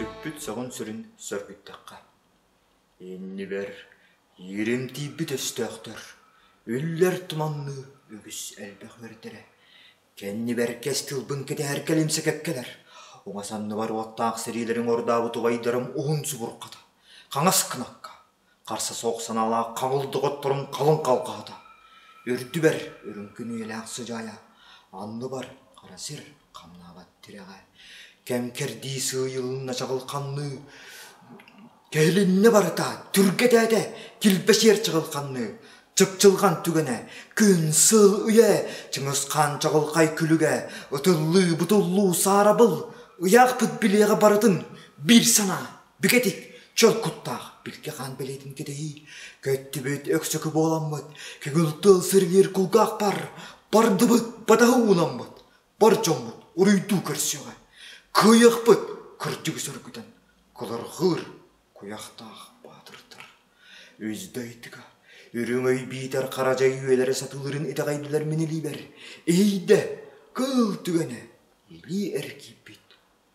Сүппүт сөҕүн сүрүн сөргүттэххэ. Иннибэр ииримтийбит өстөөхтөр, үллэр туманныы үгүс элбэх үөрдэрэ. Кэннибэр кэс тылбын кэтэһэр кэлимсэ кэккэлэр. Уҥа санныбар уоттаах сэриилэрин ордообут убайдарым уһун субурхата. Хаҥас кынакка Харса суох санаалаах хаҥыл доҕотторун халыҥ халҕаһыта, үрдүбэр үрүҥкүн үйэлээх сыдьаайа, анныбар хара сир хамнаабат тирэҕэ, кэм-кэрдии сыыйылынна чаҕыл ханныы, кэһилиннэ барыта түргэтээтэ килбэсиэр чаҕыл ханныы, чыпчылҕан түгэнэ, күн, сыл, үйэ, чыҥыс хаан чаҕылхай күлүгэ, ытыллыы, бутуллуу, саарабыл, ыйаахпыт билиэҕэ барытын биир санаа. Бигэтик чөл куттаах билги хаан билиитин кэтэһии. Көттүбүт өксөкү буоламмыт, көгүл тыл сыргыыр кулгаах бар, бардыбыт батаһы ууламмыт, бар дьоммут уруйдуу көрсөҕө. Кыйахпыт кырдьыгы сөргүтэн, кыларҕыыр куйахтаах баатырдар. Үздайдыга үрүҥэй биитэр харажай үөлэрэ сатыылырын итэҕэйдилэр минилиибэр, иһийдэ кыл түгэнэ илии эргийбит.